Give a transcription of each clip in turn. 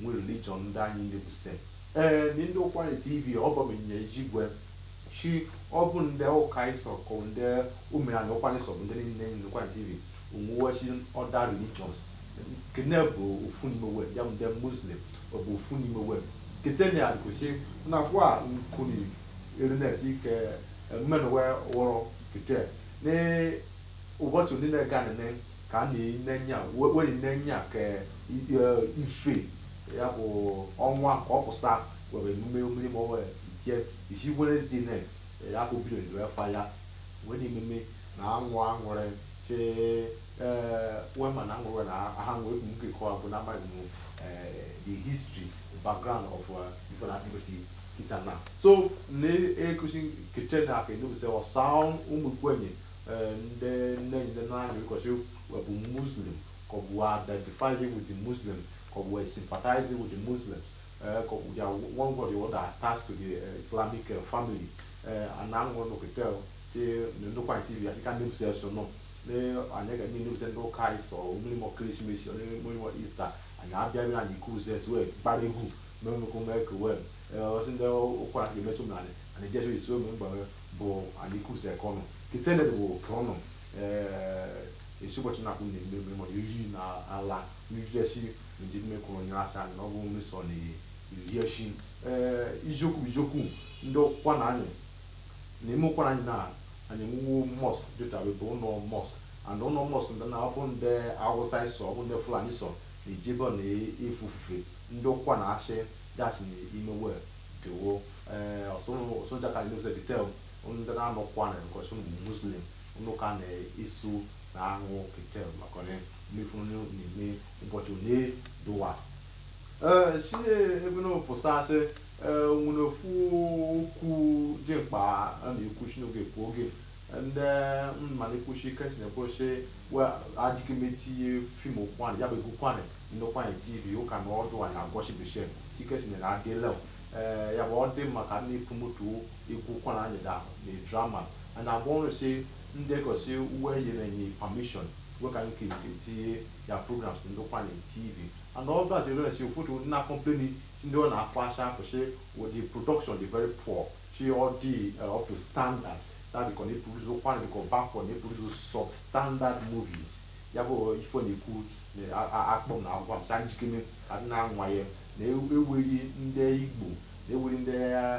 Nwe religion ndị anyị ndị bụ se. Ee, ni ndị Ụkwụanị TV ọbọ m nye ijigwe. Shi ọ bụ ndị ụka ịsọ kọ ndị ụmụ anyị Ụkwụanị sọ bụ ndị niile ndị Ụkwụanị TV onwuwe shi other religions. Kene bụ ofu n'ime we ya bụ ndị Muslim ọ bụ ofu n'ime we. Kete ni adịkwụsị na afọ a nkuni erines ike mmenụ we wọrọ kete. Ni ụbọchị ndị na-ega nene ka a na-enenya were nenya ka ife ya bụ ọnwa ka ọ pụsa were emume mmiri ma ọ were itie isi werezie na ya bụ bido ndụ efa ya wee na ememe na anwụ aṅụrị ke wee ma na aṅụrị na aha nwee ekwu nke kọwa bụ na amaghị m the history background of ife na asịgosi kita na so na-ekusi keche na aka edobusewa saa ụmụ Ụkwụanị Eh, ndị nne ndị naanị ụkọchị bụ muslim ka ọ bụ identifying with the muslim ka ọ bụ sympathizing with the muslim eh, ka ọ bụ in one way or other attached to the eh, islamic family ana aṅụrụ n'okete te ndị Ụkwụanị tv asị ka ndị bụsị eso nọ anyị ga ndị bụsị ndị ụka ịsọ mmiri mọ Christmas mmiri mọ Easter anyị abịaghị anyị kuze wee gbara egwu mee mmekọ mee ka wee ọsị ndị ụkwara ga-emeso m na anyị anyị jesu isu ụmụ mgbanwe bụ alikuse kọnụ kitele bụ kọnụ esi ụbọchị na-akwụ na eme eme ma iri na ala n'ijeshi nji mme kwuru onye asa anyị na ọ bụ mmesọ na iri eshi iziokwu iziokwu ndị Ụkwụanị anyị na ime Ụkwụanị anyị na anyị nwuwo mosque dịta bụ ụlọ mosque and ụlọ mosque ndị na ọ bụ ndị awụsa ịsọ ọ bụ ndị fulani sọ na ijebe na efufe ndị Ụkwụanị achị gasị na ime we Kewo ee eh, ọsụnụ soja ka anyị sị kitele ndị na-anọ Ụkwụanị nkọsi ụmụ muslim ụnụ ka na-eso na aṅụ kitele maka onye mmefu onye na-eme ụbọchị onye dụwa ee eh, si ebe ụnụ pụsa sị eh, nwere ofu okwu dị mkpa a na-ekwu si n'oge ekwu oge ndị mmalite kwushi ike si na-ekwuchi adịghị m etinye film Ụkwụanị ya bụ egwu Ụkwụanị Ndị Ụkwụanị TV ụka na ọdụ anyị agwọchi Bishep Chikesinyere Adeleo ee ya bụ ọ dị mma ka a na-promote egwu Ụkwụanị anyị da na drama anyị agwọ ọrụ si ndị egosi we nyere anyị permission we ka nke nke tinye ya programs Ndị Ụkwụanị TV and ọdụ azị rere si ụfọdụ ndị na-complain si ndị ọ na-afọ asha afọ si the production dị very poor si ọ dị eh, up to standard sa biko na-produce Ụkwụanị biko bakọ na-produce substandard movies ya bụ ife ọ na-ekwu akpọm na agwam sa njikeme adị na nwaye na eweri ndị Igbo na eweri ndị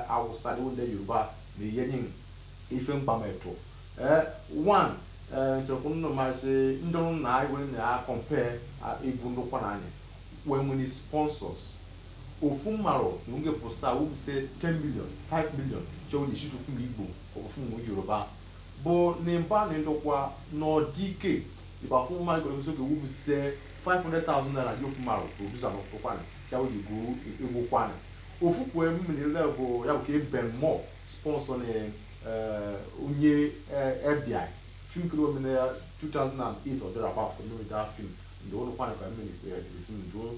Awụsa na eweri ndị Yoruba na iyenye ife mgbametụ ee one ee nchekwa nnụ masị ndị ọrụ na ewere na ya compare egwu ndị Ụkwụanị anyị wee nweni sponsors ofu mmarụ na oge pụsa wese 10 million 5 million chọrọ ji shoot film Igbo or film Yoruba but n'eba na Ndokwa n'ọ dị ike Ị ba afụ Mike Olúbísókè wese five hundred thousand naira ye ofu mmarụ producer n'Ụkwụanị sị awụ ji gụọ egwu Ụkwụanị. Ofu kwue mmiri lel bụ ya bụ ke Ben Moore sponsor ni eh, onye eh, Ebiai. Film ke e me na year 2008 or thereabout ka e meni that film. Ndị Ụkwụanị ka mmiri eh, dịrị film ndị ụlọ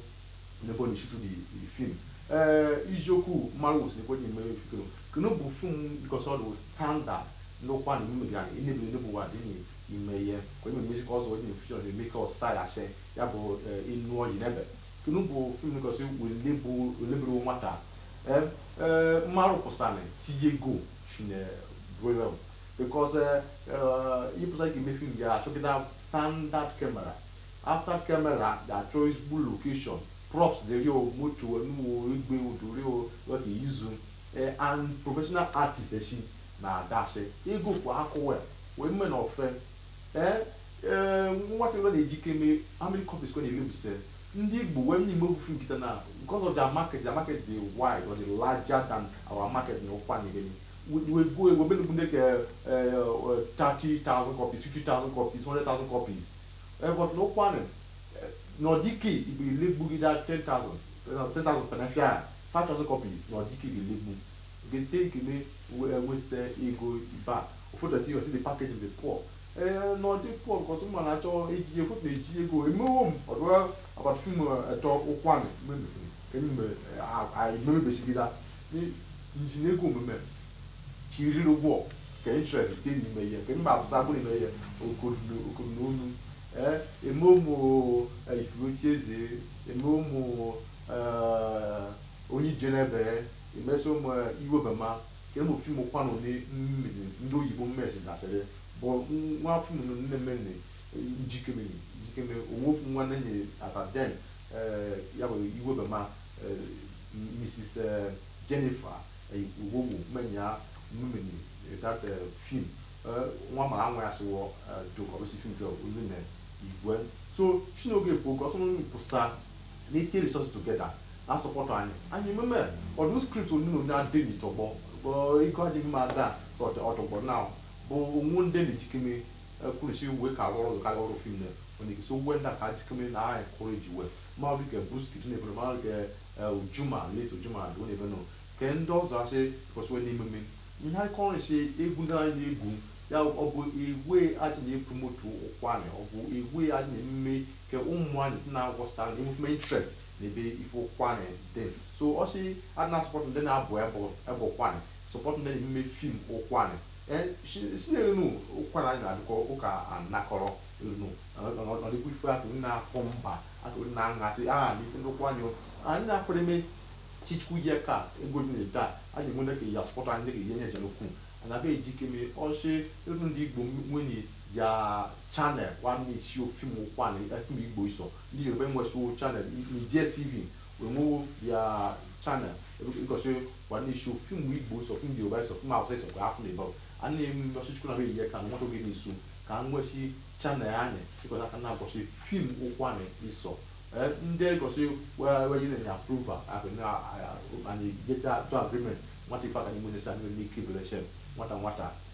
nebo ni shoot the the film eh ị jọkọ marụ sị ko ni me fikiro kino bu film because all those standard n'Ụkwụanị mi gani ni bi ni bu wa di ni ime ihe ka onye music ọzọ onye m feature ọdị eme ka ọsa ya asị ya bụ ịnụ ọyị n'ebe kenu bụ film because wele bụ wele bụrụ nwata ee ee mmarụ kwesịnị tinye ego shine very well because ịpụta ka eme film ya a chọ that standard camera after camera ga-achọ ezigbo location props dịrị o moto nuwo igwe udori o what they use and professional artists echi na adasị ego kwa akụwa wee mme na ofe ee ee nwa kewere njikeme how many copies we na-elebuse ndị igbo wee nye imebufu kịta na because of their market their market dị wide or dị larger than our market na ụkwa na ebeni we go we be looking like uh, uh, 30,000 copies, 50,000 copies, 100,000 copies. Uh, but n'Ụkwụanị, n'ọ dị ike ị be legbu iha 10,000, 10,000 fe n'afịa, 5,000 copies, n'ọ dị ike ị be legbu. njikeme wese ego iba ofodo si you see the package dey poor eh na ọ dị poor because ụmụ na achọ eji efu na eji ego emewo m ọdụ about film etọ Ụkwụanị m meme aimemebechigida nji na ego m me chịrịrị ụgwọ ka interest tie n'ime ye ke mma apụsa abụrụ ime ihe okoro na onu eh emewo m ifuochi eze emewo m onye ije n'ebe Emesịa m Iwebema kere m film Ụkwụanị mmiri ndị oyibo mmesi dasịrị bụ nwa film nne mmenne njikeme njikeme onwe ofu nwa nenye at then ya bụ Iwebema Mrs. Jennifer Owowo mụ na ya meni that film nwa mara nwa ya sịwọ jokọrọsi film jọ onye na igwe so chinoge because ọsọ n'onye pụsa N'itinye resources together na support anyị, anyị ememe ọdụ script onyonyo adị n'itọgbọ ego adịghị mma ada so ọtọgbọ na bụ onwe ndị na-ejikeme kwurisi uwe ka arụ ọrụ ka ọrụ film na onye gị so uwe ndị ka ajikeme na anyị kụrụ eji uwe ma dị ka buski dị n'ebe ma dị ka Juma late Juma dị n'ebe nọ ka ndị ọzọ asị kọsịwe n'ememe ihe anyị kọrọ si egwu ndị anyị na-egwu ya ọ bụ iwe aji na-epromote Ụkwanị ọ bụ iwe aji na-ememe ke ụmụ anyị ndị na-apụsa ndị nwekwa interest na ebe ife ụkwanị dị so ọ sị a na-asupport ndị na-abụ ebụ Ụkwanị support ndị na-eme film ụkwanị Eh, si- si n'elu ụkwanị anyị na-adịkọ ụka anakọrọ elu ọdịkwa ife akụ ndị na-akụ mba akụ ndị na-aṅasị a na ife ndị ụkwanị o. anyị na-ekpere eme si Chukwu ye ka ego dị na-ede a a ga-enwe ndị ka ya support anyị ndị ga-enye nye jere ukwu ana be ejikeme ọ sị even ndị Igbo nwenị Ya channel wa na-eshow film kwa ni e film igbo iso ndi yoruba nwesi channel na DSTV we nwe ya channel because wa na-eshow film Igbo iso film yoruba iso film hausa iso ka film igbo ani mi so Chukwu na be ye ka anyị nwe to ge ni su ka nwesi channel anyị because a ka na-egosi film Ụkwanị iso ndị gosi wee nyere ya approval anyị jeta to agreement nwata ife aka n'ime onye sa n'ike ibere nwata nwata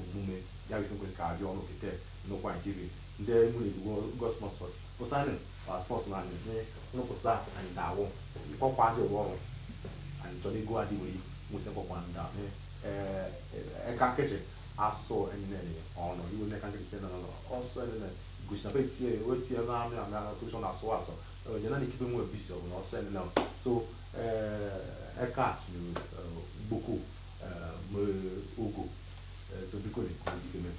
omume ya biko ka abịa nọ kete Ndokwa TV ndị nwere ego sponsor pụsanị ma sponsor na anyị nye nrụpụsa anyị dawụ ịkpọkwa ndị ụgwọ ọrụ anyị chọrọ ego adị were nwesị mkpọkwa ndị a mee eka nkeji asụ anyị na-enye ọnụ iwe n'eka nkeji chere na ọsọ anyị na gosi na be tie wee tie na amị amị na kụshọ na asụ asụ onye na ikike nwe bisi ọbụla ọsọ anyị na so eka gboko ogo so biko na-ekwu dikeme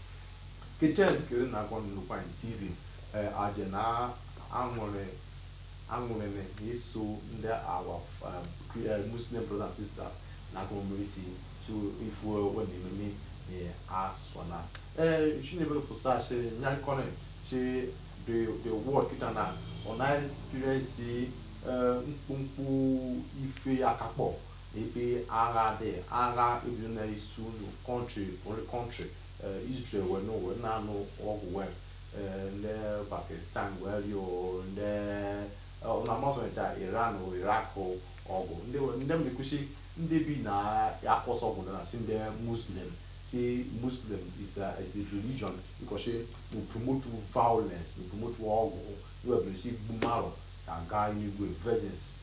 kechaa dikere na akwa Ndokwa TV anyị na-aṅụrị aṅụrị na iso ndị our Muslim brothers and sisters na community so ife we na-ememe na asọ na ee si n'ebe pụsa sị ya na-akọnị sị the the world kịta na ọ na-experience mkpụmkpụ ife akakpọ Ebe agha dị, agha ebido na isi unu, country, only country, eh, Israel wee nụ wee na-anụ ọgụ wee eh, ndị Pakistan wee rịọ ndị eh, na amazọnịcha Iran o Iraq o ọgụ ndị we- ndị na-ekwu sị ndị bi na-acause ọgụ na si ndị Muslim si Muslim is a, is a religion because we promote violence, we promote ọgụ, we sị igbu mmadụ a ga-enwe virgins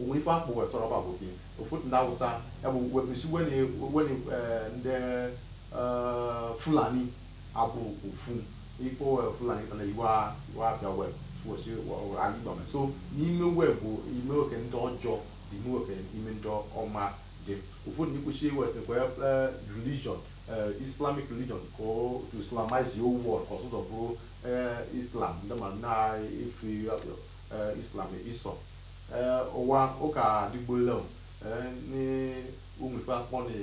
onwe ife akpọ wee sọrọ ọ bụ aboki ụfọdụ ndị awụsa ya bụ wepụsi weni eh, ndị eh, fulani abụ ofu ikpo eh, fulani na iwe abịa wee fụosi ala igbo so n'ime wee bụ ime oke ndị ọjọọ dị ime oke ime ndị ọma dị ụfọdụ ikwesị iwetakwa religion islamic religion ka to islamize the whole world ka ọsa ụwa fe islam ndị ma na-efe eh, Islam isọ eh, ụwa ụka adịgbola o, eh, ni onwere ife akpọ na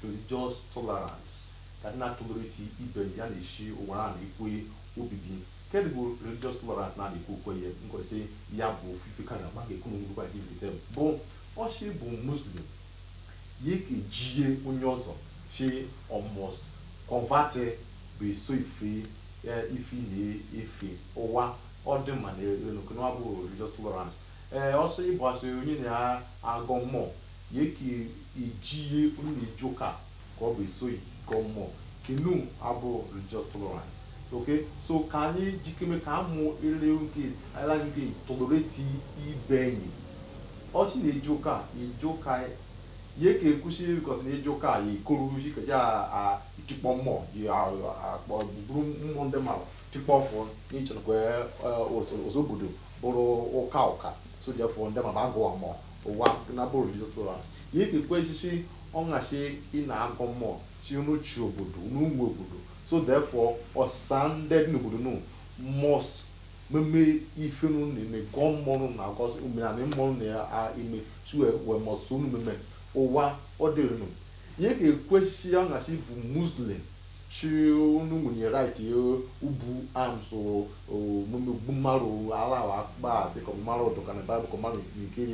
religious tolerance ka anyị na-atolerate ibe enyi ya na-eshi ụwa a na-ekwe obibi kedụ bụ religious tolerance na na-ekwe okwenye nkọrịsị ya bụ ofufe ka na maka ekwu na onwekwa dị ibe bụ ọshi ị bụ muslim ye ke ejie onye ọzọ shi ọ must convert be eso ife eh, ife ị na-efe ụwa Ọ dị mma na enu kenu abụ religious tolerance. Ee, ọsị ịbụ asị onye na-agọ mmụọ ye ka ejie onye na-eje ụka ka ọ be eso gị gọ mmụọ kenu abụ religious tolerance. Okay, so ka anyị jikeme ka amụ ele nke ala nke tolerate ibe enyi. Ọsị ị na-eje ụka eje ụka ye ka ekwusi because ị na-eje ụka ya ekoru ji ka eje itikpọ mmụọ ya akpọ buru mmụọ ndị mmadụ tikpọfụ n'ịchọ nụ ka ọsa obodo bụrụ ụka ụka so therefore ndị ma agọ mmụọ ụwa na bụrụ tolerance ye ka ekwusi si ọ ngasi ị na-agọ mmụọ si unu chi obodo unu nwe obodo so therefore ọsa ndị dị n'obodo nụ must meme ife nụ na-eme gọọ mmụọ nụ na-agọ si omenala nụ na-eme si wee must so unu meme ụwa ọ dịrị nụ ye ka ekwusi si ọ ngasi ị bụ muslim Si unu nwere right ibu arms omume gbu mmarụ ala wa akpa ati ko maru odoka na bible ko maru nke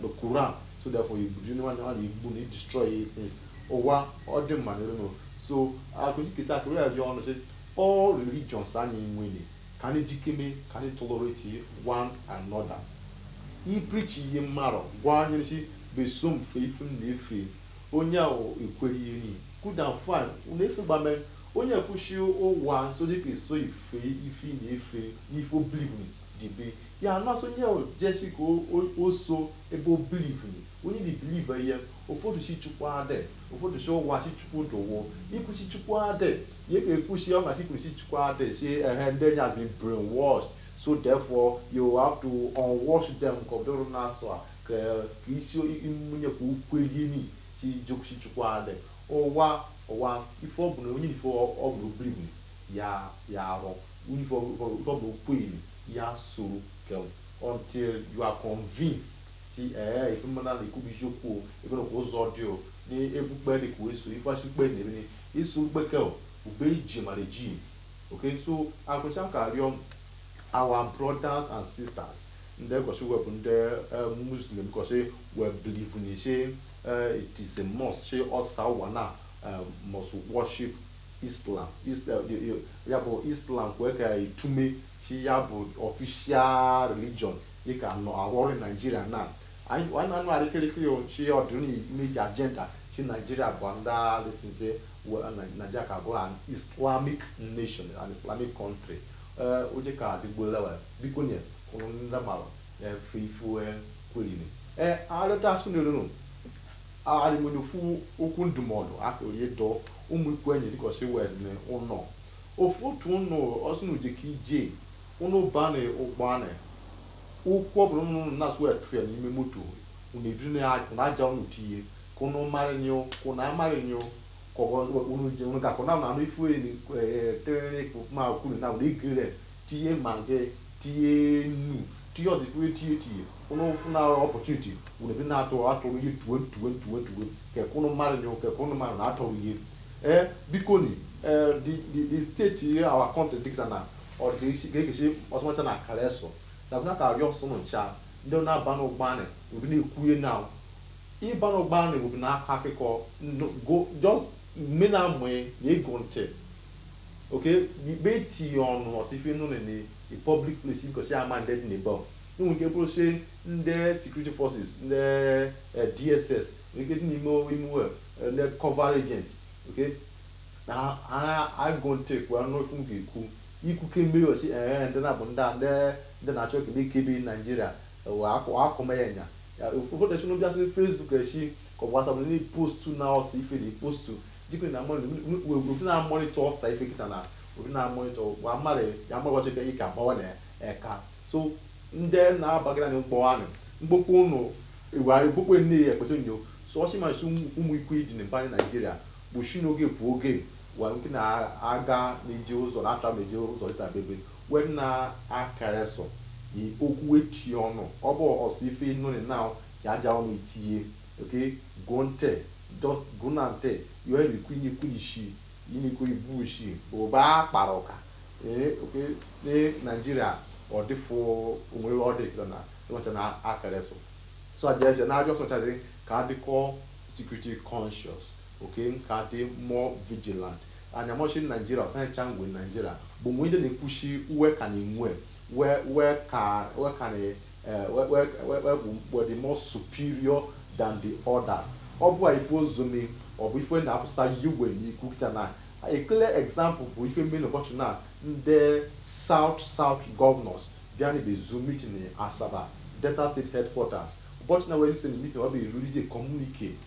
the quran so therefore you do anyone anyone igbu na destroy things ụwa ọ dị mma n'iru no so akụzi kịta akụrụ ya dị ọnụ sị all religions anyị nwere ka anyị jikeme ka anyị tolerate one another i preachie mmarụ gwa ye si be so m fe ife m na-efe onye ahụ kwelie ni Good and fine na-efe gbame onye ekwusi ụwa nso dịka eso ife ife ị na-efe n'ife ọ believe ni dịbe ya nsọ onye jesi ka o so ebe ọ believe ni onye dị believe eye ụfọdụ si Chukwu adị ụfọdụ si ụwa si Chukwu dụwo ikwu si Chukwu adị ye ka ekwusi ọ ngasi ị kwuru si Chukwu adị si ehe ndị enyi has been brainwashed so therefore you have to unwash them ka ọ dịrụ na-asa ya ka ka isi mmunye ka o kwelie ni si jokusi chukwu adị ụwa ụwa ife ọ bụla onye ife ọ bụla o believe ya ya arụ onye ife ọ bụla okweli ya soro ka until you are convinced si ee ife mmadụ na-ekwu bụ ejiokwu o ebe na kwa ụzọ dị o na egwu kpe dị ka wee so ife achị kpe na ebe iso kpeke ube iji mara ji okay so akwụcha ka arịọ our brothers and sisters Ndị kọsị wee bụ ndị muslim kọsị wee believe ni shi it is a must shi ọsa ụwa na must worship Islam ya bụ Islam kwee ka itume shi ya bụ official religion dị ka nọ arụ ọrụ Naijiria na anyị na-anụ arịkịrịkịrị shi ọ dịrị ndị ji agenda shi Naijiria bụ ndị alịsị Nigeria ka bụrụ an Islamic nation an Islamic country Ee, ụjị ka adịgbuola wa biko nye ụnụ ndị mara efe ifu kwerini ee arịta asụ n'elunu arịmonye ofu okwu ndụmọdụ akụrụ ịdọ ụmụ ikwu anyị dịka ọsị wee dị ụnọ ofu otu ụnụ ọsị na uje ka ije ụnụ ba na ụgbọ anị okwu ọbụla ụnụ ụnụ na-asụ wee tụrụ ya n'ime moto ụnụ ebiri na ya ụnụ aja ụnụ tinye ka ụnụ mara nye ka ụnụ amara nye kọwọ unu ji unu ga-akọ na anụ ifu eni tere ikpụ ma kwuru na unu egere tinye magi tinye nnu tinye ọsa ifu etinye tinye unu fụ na opportunity unu ebe na-atụ atụrụ ihe tuwe tuwe tuwe tuwe kekụ unu mara nye kekụ unu mmadụ na-atụrụ ihe ee biko ni ee the the the state ihe our country dị kịta na ọ dị isi ga-ekechi ọsọmacha na akara eso na bụna ka arịọ ọsa unu ncha ndị na-aba n'ụgbọ anị obi na-ekwuye na Ịba n'ụgbọ anị obi na-akọ akụkọ ndụ go just mme na mwe ye ego nche oke ikpe ti ọnụ ọsa ife nụ na ni a public place because ị ama ndị dị na ebe o nwere ike bụrụ sị ndị security forces ndị eh, DSS nwere ike dị n'ime ime ụlọ, eh, undercover agents okay na ha ha ege ntị kwuo anụ okwu m ga-ekwu ikwu kemgbe ọsị ee ndị na bụ ndị a ndị ndị na-achọ ka na-ekebe Naijiria akụ akụma ya nya ụfọdụ echi n'obi asị Facebook echi ka ọ bụ WhatsApp ndị postu na ọsa ife ndị postu jikwe na obi na-amonitor ọsa ife kịta na obi na-amonitor wa mmadụ ya mmadụ ọchị ka ike agbawa na eka so ndị na-abagara n'ụgbọ anị mkpokpọ ụnụ iwe anyị mkpokpọ nne ya ekpete nyo so ọchị masị ụmụ ikwu dị na mba naijiria bụ shi n'oge bụ oge wa nke na-aga na-eje ụzọ na-atra na-eje ụzọ dịta bebe Wem na akara sọ ni oku eti ọnụ, ọ bụ ọsọ ife nụnị now ya aja ọnụ itiye, okay, gọ ntị, just gọna ntị, yọọ emi kwi ni kwi ishi, yi ni kwi ibu ishi, bụ ba kpara ụka, ee, okay, ni Nigeria ọ dị fụ onwe ebe ọ dị kịta na ịnọcha na akara sọ. So aja ese na ajọ sọchazi ka adịkọ security conscious. Okay, ka adị more vigilant. Anyamọchị Nigeria, ọsa anyị cha nwe Nigeria, bụ o nwe ndị na-ekwushi uwe ka na-enwe we we ka we ka na eh, we we we we bụ we dị more superior than the others. Ọ bụ a ife ozumi, ọ bụ ife na-apụsa yiwe n'ikwu kịta na a clear example bụ ife menụ ụbọchị na ndị South South governors bịa n'ebe zu meeting in Asaba, Delta State headquarters. Ụbọchị na wee si na meeting ọ bụ release communique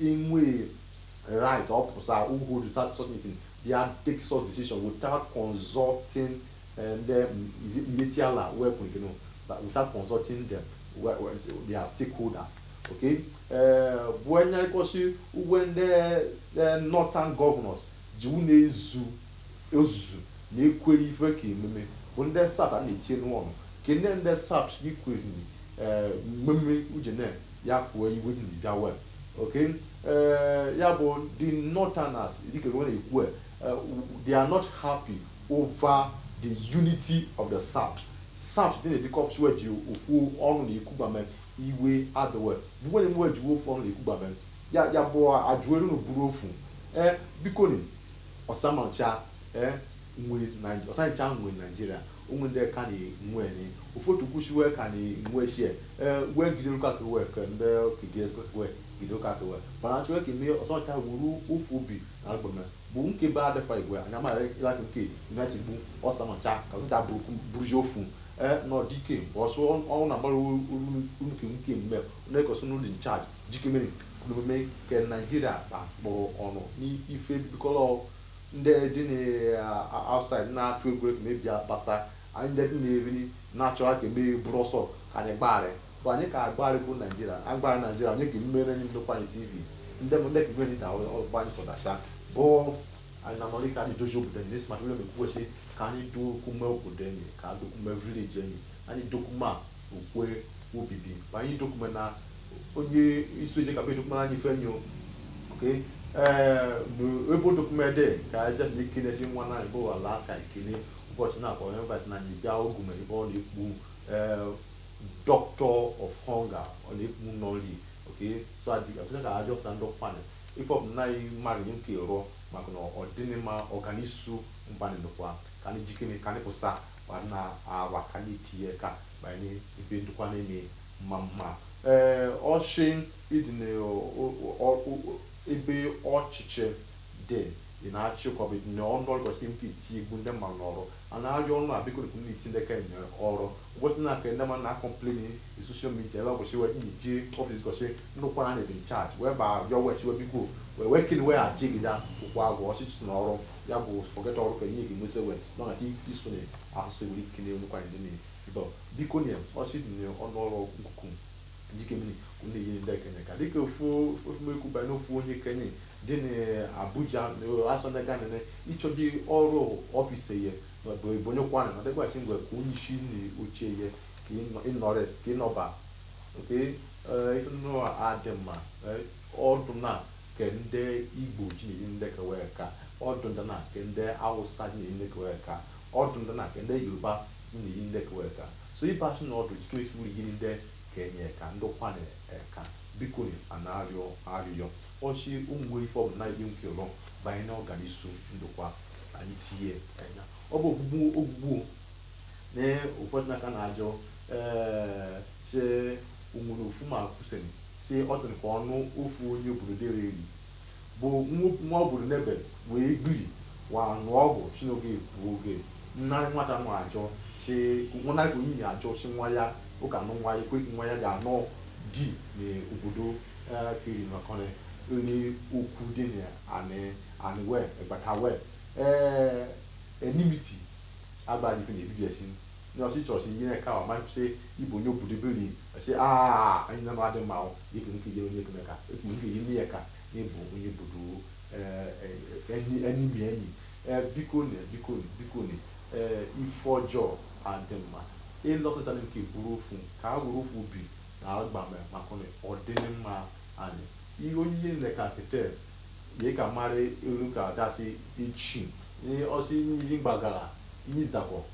Inwe right ọ pụsa hold the such such meeting bịa take such decision without consulting eh, ndị mm, is it Miyetti Allah wee kwuru gịnị but without consulting them we- we- their stakeholders okay eh, bụ onye kọsi uwe ndị eh, northern governors ji unu ezu ozuzu na ekwere ife ka emume bụ ndị south na-etinye n'ọnụ ka ndị ndị south ikwere eh, mmemme uche na ya kwuo iwe dị ji bịa we okay eh, ya bụ the northerners dịka we na-ekwu eh, they are not happy over the unity of the south south dị na-edikọ ọpụsụ eji ofu ọnụ na-ekwugbame iwe adịwe bụ nwere mwe ejiwe ofu ọnụ na-ekwugbame ya ya bụ ajụelu na buru ofu ee eh, biko ni ọsamacha ee eh, nwe ọsancha nwe Nigeria o nwe ndị ka na nwe ni ụfọdụ kwụsị wee ka na nwe sie ee wee gidere ụka ka wee ka ndị kidie wee gidere ụka ka wee mana achọ ka ime ọsamacha wuru ofu obi na agbeme bụ nke be adịfa igwe anya ma ịlaka nke united bụ ọsamacha ka ụta bụrụzi ofu ee nọ dike mgbe ọsọ ọnwụ na-agbara unuke nke mme na-ekosi unu dị in charge jike mere kwuru omume nke Nigeria kpakpọrọ ọnụ n'ife bikọrọ ndị dị na outside uh, na-atụ egwu ka emebia kpasa anyị ndị dị na-eri na-achọra ka emeghị bụrụ ọsọ ka anyị gbagharị bụ anyị ka agbagharị bụ Nigeria agbagharị Nigeria onye ka mmere anyị nnukwu anyị TV ndị ndị ka mmeri na ọgba anyị sọdacha bụ anyị na nọrị ka anyị dozie obodo anyị n'esi maka mmemme kwuwesị ka anyị do ọkụma obodo anyị ka do ọkụma village anyị anyị do ọkụma okwe obibi ma anyị do ọkụma na onye isu eje kapa edokpara anyị ife nyo okay eh, no ebo dokumede ka aja ni kine si nwa na ibo wa last ka kine ụbọchị na akwa remember na anyị bịa ogu ma ibo ọ na-ekpu eh, doctor of hunger ọ na-ekpu nọli okay so aji apụta ka aja ọsa ndị ọkpani ife ọbụla anyị mmadụ nye nke rụọ maka na ọ dịnị ma ọganisu mba anyị Ndụkwa ka anyị jikere ka anyị pụsa ma na awa ka anyị tinye aka ma anyị ibe Ndụkwa na-eme ma ma ee ọ sị ị dị na ebe ọchịchị dị ị na-achị ka ọ bụ ị dị na ọnụ ọrụ kwesịrị nke iti egbu ndị mmadụ n'ọrụ a na-arịọ unu a bikoni tii ndị ke anyị ọrụ ụbọchị na-aka ndị mmadụ na-acomplain na social media ebe kwesịrị wee iji office gosi nnukwu na in charge wee ba arịọ wee chiwe biko wee wee kene wee achịgide ụkwụ agwụ ọchịchị na ọrụ ya bụ forget ọrụ ka enye gị nwesị wee nọghachi isu na azụ were ike na-enwekwa ndị na Dọ, bikoni ọ sị ị dị n'ọnụ ọrụ nkuku jikemini kunde yin ndị ke anyị aka dike fo fo me ku ba na ofu onye ke anyị dị n'Abuja asọ na gane ne icho di ọrụ office ye na bụ ebonye kwana na dịkwa chi ngwe ka onye isi na oche ye ka ịnọ- ịnọrị ka ịnọba nke ife nnụ adị mma eh, ọdụ na ke ndị Igbo ji na-enye ndị ke we aka ọdụ ndị na ke ndị Awụsa ji na-enye ndị ke we aka ọdụ ndị na ke ndị Yoruba Na-enye ndị ke we aka. So ebe a sị na ọdụ jikere isu na-enye ndị ke anyị aka ndị kwane ka bikoni a na-arịọ arịrịọ. Ọ sị o nwere ife ọbụla anyị ga-enwe ike ịrịọ banyere ọganisu Ndụkwa, anyị tie anya. Ọ bụ ogbugbu ogbugbu o. Na ụfọdụ na ka na-ajụ ee sị o nwere ofu ma kwusịrị sị ọ dịrị ka ọnụ ofu onye obodo dere eri. bụ nwa obodo n'ebe wee gbiri wa nụọ ọgụ si n'oge ekwu oge nnarị nwata nwa achọ si nwụnarị ka onye achọ si nwa ya ụka nụ nwa ya ekweghị nwa ya ga-anụ di n'obodo kiri maka na onye okwu dị na anị anị wee egbata wee ee enmity agbaghị ife na-ebibi esi Ni ọ sị church ihe na-eke ahụ ma sị ị bụ onye obodo biri sị aa anyị na adị mma dịka nke ije onye ekene ka ekwu nke ije n'ihe ka na ị bụ onye obodo enyi enyi mi enyi biko na biko biko na ife ọjọọ adị mma ịlọsịtara nke bụrụ ofu ka a were ofu obi na agbame maka na ọ dịghị mma anyị ihe onye ihe nleka kete ye ka mara elu ka dasị echi ọ sị nri gbagara ihe zakọ